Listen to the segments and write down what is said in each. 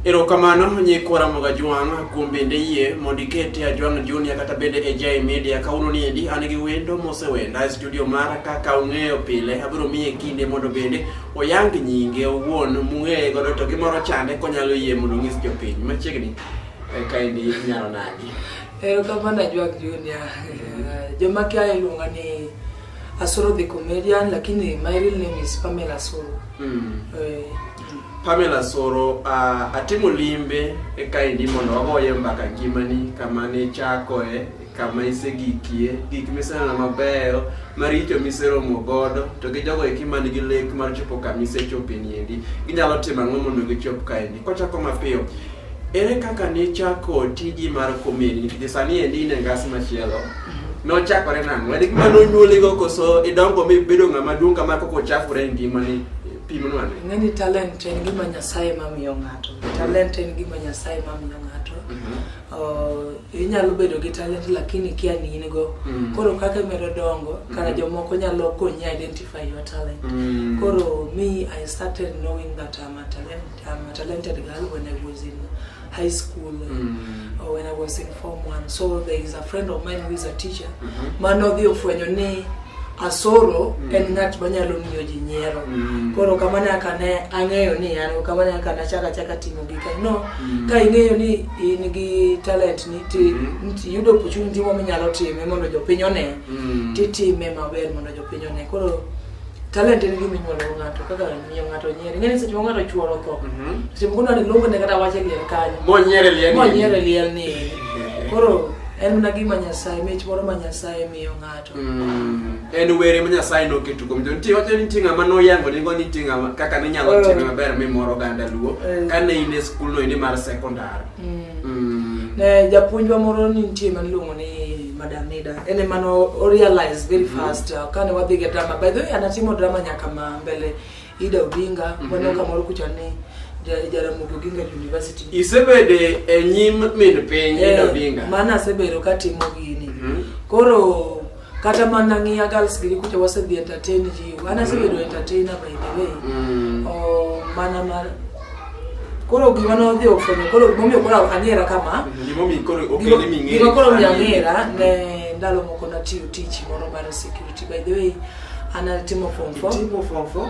Erokamano nyikora moga jwang' kuom bende yie mondo ikete ajwang' junior kata bende e Jai Media kawuono ni endi an gi wendo mosewenda e studio mara kaka ung'eyo pile abiro miye kinde mondo bende oyang nyinge owuon mung'eye godo to gimoro chande konyalo yie mondo onyis jopiny machiegni eh, kaendi inyalo nadi. Erokamano ajwang' junior joma kia iluonga ni Asoro the comedian lakini my real name is Pamela Asoro. Mm. Eh, Pamela Asoro uh, atimo limbe eka indi mondo wagoye mbaka ngimani kama ne chakoe kama isegikie gik miseneno mabeyo maricho miseromo godo to gi jogo eki man gi lek mar chopo kama isechope niendi ginyalo timo ang'o mondo gichop kaendi kwachako mapiyo Ere kaka nichako tiji mar komedi nikech sani endi in e ngas machielo mhm. nochakore nang'o? En gima nonyuoligo koso idongo mibedo ng'ama duong' kama koko ochakore e ngimani? pimonwani ng'e ni talent en gima nyasaye mamiyo ng'ato talent en gima nyasaye mamiyo ng'ato mhm. inyalo bedo gi talent lakini kia ni in go mhm. koro kaka imedo dongo kara mhm. jomoko nyalo konyi identify your talent koro me i started knowing that I'm a talent I'm a talented girl when I was in high school mm. or when I was in form one. So there is a friend of mine who is a teacher. Mm -hmm. Mano dhi ofwenyo ni asoro mm. en ng'at manyalo miyo ji nyiero mm. koro kama nyaka ne ang'eyo ni an kama nyaka nachaka chaka timo gika no mm. ka ing'eyo ni in gi talent ni ti mm. yudo opportunity mo minyalo time mondo jopiny one mm. titime maber mondo jopiny one koro Talent en gima inyuolo go ng'ato kaka miyo ng'ato nyiero. Ing'e ni seche ma ng'ato chuoro tho, seche moko dwani luongo ne kata wache liel kanyo. Monyiere liel ni. Monyiere liel ni. Koro en mana gima Nyasaye, mich moro ma Nyasaye miyo ng'ato. Mm. En were ma Nyasaye noketo kuom jo. Nitie wacho ni nitie ng'ama noyango nigo ni nitie ng'ama kaka ninyalo Eh. time maber mimoro oganda Luo Eh. kane in e skul no indi mar sekondar. Mm. Ne japuonjwa moro ni nitie ma niluongo ni Madam Nida. En ema no o realize very mm-hmm. fast uh, kane wadhi ga drama. By the way, anatimo drama nyaka ma mbele Ida Odinga, mm-hmm. wana kamoro kucha ni Jaramogi Oginga University. Isebede e nyim min piny Ida eh, Odinga. Maana asebedo katimo gini. Mm-hmm. Koro kata mana ng'iya girls giri kucha wasedhi entertain ji an asebedo entertainer by the way Mm. oh, mana mar koro gima nodhi ofwenyo koro gimomiyo koro ang'era kama Gimomiyo koro okele ming'eyo. gima koro omiyo ang'era ne ndalo moko natiyo tich moro mar security by the way an atimo form four Timo form four.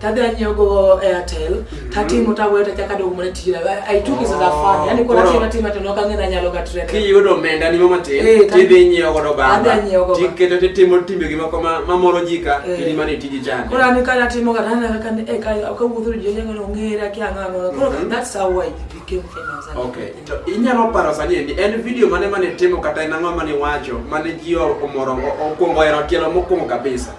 tadhi anyiewogo airtel mhm. tatimo tawuoyo tachaka dogo mana tijna i took it as a fun oh, yani koro atima tima to nok ang'e nanyalo ga trend kiyudo omenda ni mama tin eh, tidhi inyiewo godo bamba tiketo titimo timbe gi moko mamoro ji ka eh. ili mane tiji chande koro an ka natimo ga tana kaka ne e ka ka wuotho ji nyaka no ng'ere aki ang'a no koro mhm. that's how i became famous okay to inyalo paro sani endi en video mane mane timo kata en ang'o mane wacho mane ji omoro okwongo ero tielo mokwongo kabisa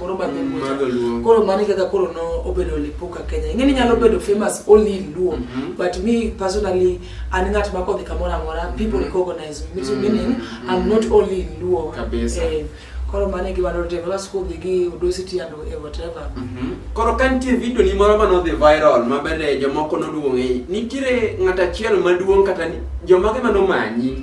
moro ma dholuo koro mano kaka koro no obedo lipuka kenya ing'e ni nyalo bedo famous only in luo mm -hmm. but me personally an ng'at ma kodhi kamoro amora mm-hmm. people mm -hmm. recognize me so meaning mm -hmm. i'm not only in luo kabisa eh, koro mano e gima notimo bas kodhi gi udosity and e whatever mm -hmm. koro ka nitie video ni moro ma nodhi viral ma bende jomoko noduong'e nitiere ng'at achiel maduong' kata jomage ma nomanyi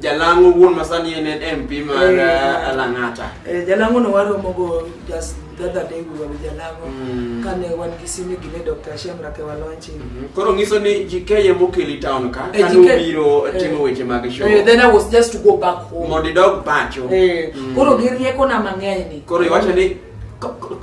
Jalango wuon masani en MP mar eh, eh, Lang'ata. Eh, Jalango no waromo go just the other day we were with Jalango mm. kane wan gi simi gi ne Dr. Shemra ke walonchi. Mm -hmm. Koro ngiso ni JK ye mokeli town ka eh, kane ubiro eh, timo weche mag show. Eh, then I was just to go back home. Mondo idog pacho. Eh, mm. Koro gi rieko na mang'eny ni. Koro iwacho ni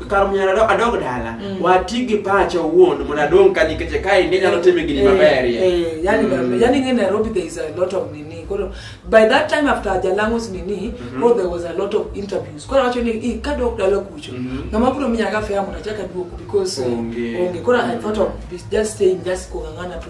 kar mnyalo adog dala mm. wati gi pacha owuon mondo adong ka nikech ka inde nyalo time gini eh, maber eh, eh, yani mm. yani ngi Nairobi there is a lot of nini koro by that time after Jalango's nini mm -hmm. there was a lot of interviews koro wacho ni i ka dog dala kucho mm -hmm. ngama bro minya ga fea mondo achaka duoko because onge koro I thought of just staying just kungangana tu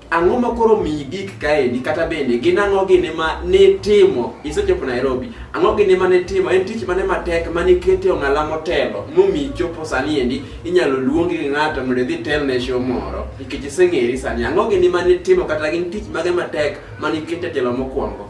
Ang'o ma koro miyi gik kaendi kata bende gin ang'o gini ma nitimo isechopo Nairobi? Ang'o gini ma nitimo? En tich mane matek ma nikete ong'ala motelo momiyi chopo sani endi inyalo luongi gi ng'ato mondo idhi telne show moro nikech iseng'eri sani. Ang'o gini ma nitimo kata gin tich mage matek ma nikete telo mokwongo?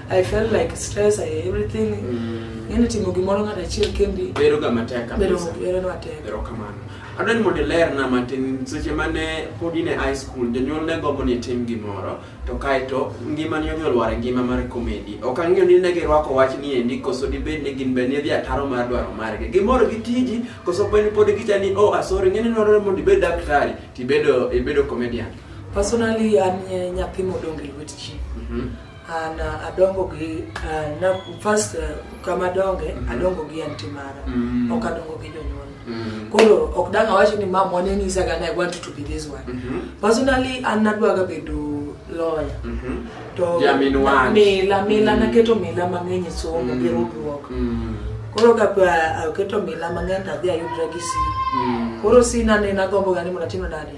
I felt like stress, I everything. Mm. Yaani timo gimoro ng'ato achiel kendi. Bedo ga matek kabisa. Bedo bedo matek. Bedo kamano. Adwa ni mondo iler na matin seche mane pod in e high school jonyuol ne gombo ni tim gimoro to kaeto ngima ni odhi olwar e ngima mar komedi. Ok ang'eyo ni ne girwako wach ni endi koso dibed ni gin be ne dhi ataro mar dwaro margi. Gimoro gi tiji koso pod pod gicha ni oh asori ng'e ni nore mondo ibed daktari tibedo ibedo comedian. Personally an nyathi modong' e lwet ji. Mm -hmm. Ah, na adongo gi ah, na first ah, kama donge mm -hmm. adongo gi anti mara mm -hmm. ok adongo gi jonyuol mm -hmm. koro ok dang' awacho ni mam wane nyisa ga i want to be this one mm -hmm. personally an nadwaga bedo lawyer mm -hmm. to yeah, I mean mila mila mm -hmm. naketo mila mang'eny e somo mm -hmm. gi ruduok mm -hmm. koro ka aketo mila mang'eny tadhi ayudra gi si mm -hmm. koro si nane nagombo ga ni mondo atim nade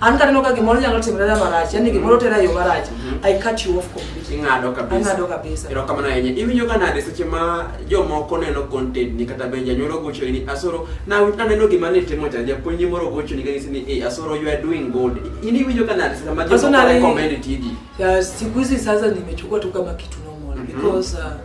an kaneno ka gimoro nyalo timore na marach yani gimoro tera yo marach mhm. i cut you off completely ing'ado kabisa ing'ado kabisa ero kamano ahinya iwinjo ka nade seche ma jomoko neno content ni kata benja nyoro gocho ni asoro na aneno gima ne timo cha japuonj ni moro gocho ni ka ngisi ni eh asoro you are doing good ini iwinjo ka nade seche ma jomoko recommend tiji ya siku hizi sasa nimechukua tu kama kitu normal mm -hmm. because uh,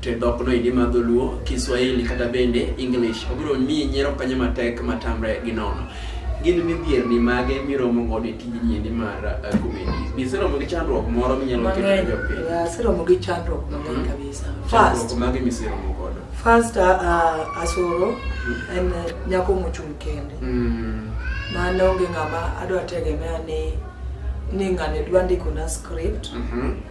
to dhok no idi madho luo kiswahili kata bende english obiro miyi nyiero kanye matek matamre gi nono gin midhierni mage miromo godo e tijni endi mar uh, comedy be iseromo gi chandruok moro minyalo keto ne jopiny aseromo gi chandruok mang'eny mm-hmm. kabisa first mage miseromo godo first uh, uh, asoro mm-hmm. en uh, nyako mochung' kende mm. mano onge ng'ama adwa tegemea ni ni ng'ane dwa ndikona script mm-hmm.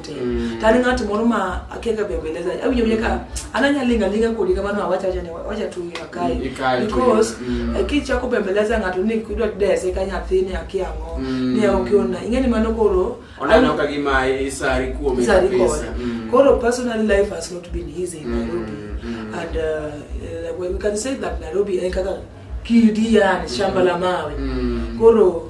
te mm. tani ng'at moro ma akia ka bembeleza awinjo wile ka ananya linga linga kodi kamano awacha acha ne wacha tu ya kai mm, because mm. Eh, ki chako bembeleza ng'ato ni kidwa dese ka nyathini akia ngo mm. ni okiona ingeni mano koro onano ka gima isari kuom isari pesa mm. koro personal life has not been easy in mm, Nairobi mm. and uh, uh, we can say that Nairobi eh, kaka kidi yani shamba la mawe mm. koro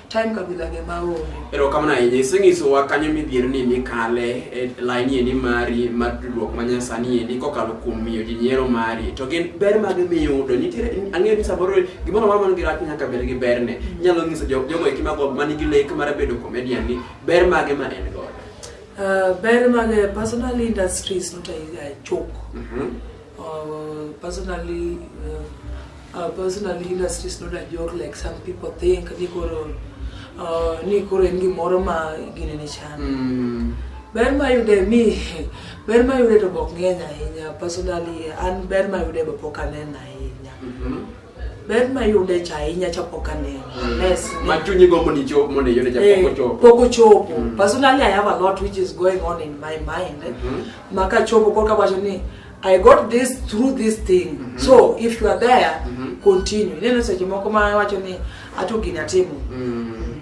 time kabila ge maonge. Ero kamano ahinya isenyisowa kanyo midhierni mikale e laini endi mari mar tudruok ma nyasani endi kokalo kuom miyo ji nyiero mari to gin ber mage miyudo nitiere ang'eyo ni samoro gimoro amora man gi rach nyaka bed gi berne mm. inyalo nyiso jogo eki mago man gi lek mar bedo comedian ni ber mage ma en godo uh, ber mage personal industries notayiga chok mm -hmm. Uh, personally, uh, uh, personally, industry is not a joke like some people think. Nikoro, uh, nikoro ingi moro ma gini ni chana. Mm. Ber ma yude mi, ber ma yude to bok ng'eny ahinya. Personally, an ber ma yude bok aneno ahinya. Mm -hmm. ber ma yude cha ahinya cha pok aneno mm. yes ma chunyi gombo ni chop mondo yude cha eh, pok ochopo pok ochopo mm. personally i have a lot which is going on in my mind mm -hmm. maka chopo kwa kabacho ni i got this through this thing mm -hmm. so if you are there mm -hmm. continue neno seche moko ma wacho ni ato gini atimo mm.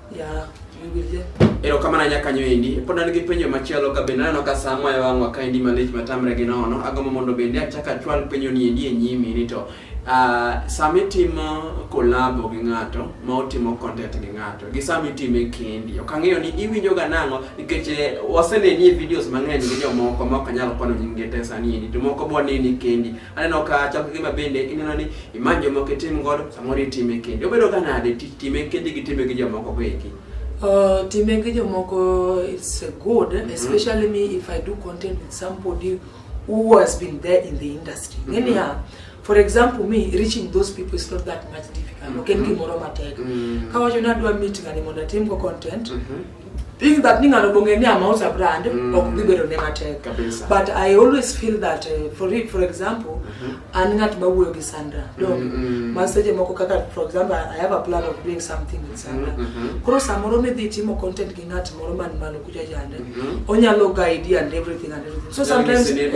Yeah, erokamana nyakanyo endi pod an gi penjo machielo ka bende aneno ka saa moya wang'wa ka endi malich matamre gi nono agombo mondo bende achak achwal penjo ni endi e nyimi ni to uh, sama itimo kolabo gi ng'ato ma otimo content gi ng'ato gi sama itime kendi ok ang'eyo ni iwinjoga nang'o nikech eh, waseneni e videos mang'eny gi jomoko ma ok anyal kwano nyingi te sani endi to moko bwaneni kendi Aneno ka chako gima bende ineno ni imany jomoko itim godo samoro itime kendi. Obedo ka nade tich time kendi gi time gi jomoko go eki? Uh, time gi jomoko it's uh, good mm -hmm. especially me if I do content with somebody who has been there in the industry. Mm -hmm. Anyhow, for example me reaching those people is not that much difficult. Mm -hmm. Okay, mm -hmm. Kawacho nadwa meet ngani mondo atim go content. Mm -hmm. think that ni ng'ano bong'e ni amauza brand mm. ok dhi bedo ne matek but i always feel that uh, for it, for example mm -hmm. an ng'at ma wuoyo gi sandra mm, dog mm -hmm. ma seche moko kaka for example i have a plan of doing something with sandra mm -hmm. koro samoro midhi timo content gi ng'at moro man malo kucha jande mm -hmm. onyalo guide and everything and everything so sometimes eh,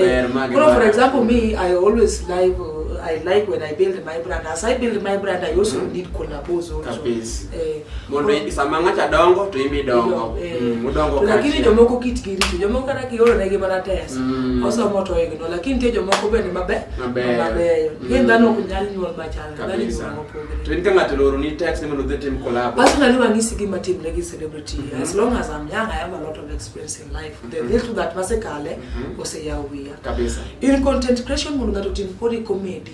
eh, koro for example me i always live uh, i like when i build my brand as i build my brand i also mm -hmm. need collabos also Kapis. Eh, mondo eh, sama ng'acha dongo to imbi dongo eh. mm, udongo lakini jomoko kitgi richo jomoko kata kiolonegi mana tes mm. osomo to igno lakini nitie jomoko bende maber mabeyo mm. gin dhano ok nyal nyuol machal to in ka ng'ato oloroni text ni mondo dhi tim collab personally wang'isi gima timre gi celebrity mm-hmm. as long as I'm young I have a lot of experience in life the mm-hmm. little that masekale mm-hmm. oseyaw wiya in content creation mondo ng'ato tim kodi comedy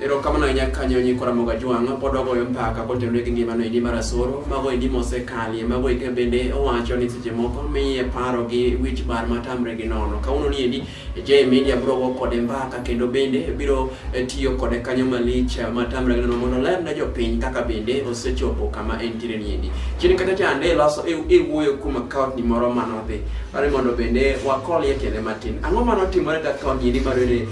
Erokamano ahinya kanyo nyikwa Ramoga Jwang' pod ogoyo mpaka kotenore gi ngimano endi mar asoro mago endi mosekalie mago eke bende owacho ni seche moko miye paro gi wich bar matamre gi nono kawuono ni endi J Media biro go kode mbaka kendo bende biro eh, tiyo kode kanyo malich eh, matamre gi nono mondo ler ne jopiny kaka bende osechopo kama entiere ni endi chini kata chande loso e, e wuoyo kuom account ni moro manodhi kare mondo bende wakolie tiende matin ang'o manotimore gi account ni endi mar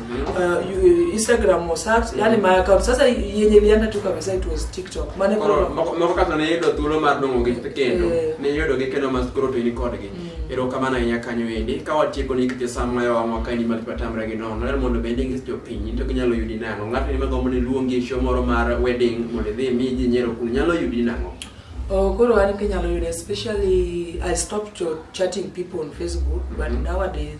uh, Instagram or search yani my account sasa yenye ilienda tu kabisa it was TikTok mane koro moko kata ne yudo thuolo mar dongo gi kendo eh. ne yudo gi kendo mas koro to ni kodgi mm. ero kama na nya kanyo endi ka watieko ni kite sam mayo wa mwaka ni mali patamra gi nono ler mondo bende ngi to piny to ginyalo yudi nango ng'ato ni mago mone luongi e show moro mar wedding mondo dhi mi ji nyero kun nyalo yudi nango Oh, koro an kinyalo yudo especially I stopped chatting people on Facebook but mm -hmm. nowadays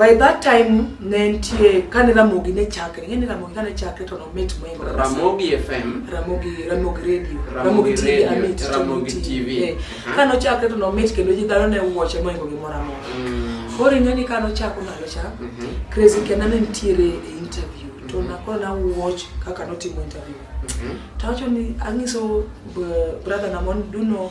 By that time ne nitie kane Ramogi ne chakre, ng'e ni Ramogi kane chakre to nomit moingo Ramogi FM, Ramogi Ramogi Radio, Ramogi, Ramogi TV, Amit, Ramogi TV. TV. Eh, uh-huh. Kane ochakre to nomit kendo ji dhano ne wuoche moingo gimoro amora. Mm. Koro ing'e ni kane ochako ndalo cha, mm -hmm. Crazy Kena ne nitiere e interview mm -hmm. to nakoro na watch kaka notimo interview. Mm -hmm. Tawacho ni ang'iso brother na mon duno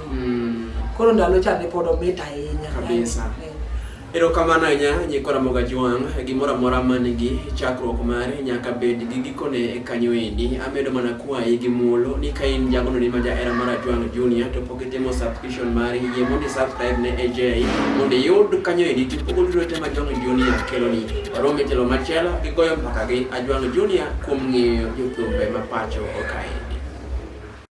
Mm. Koro ndalo cha ne pod omit ahinya. Kabisa. Eh. Erokamano ahinya nyikora moga jwang' gimoro amora man gi chakruok mare nyaka bed gi gikone kanyo endi. Amedo mana kwayi gi muolo ni ka in jagono ni ma jahera mar Ajwang' Junior to pok itimo subscription mari yie mondo subscribe ne AJ mondo iyud kanyo endi to pok oduro te ma Ajwang' Junior keloni. Warom e telo machielo gi goyo mbaka gi Ajwang' Junior kuom ng'eyo jothumbe ma pacho okae.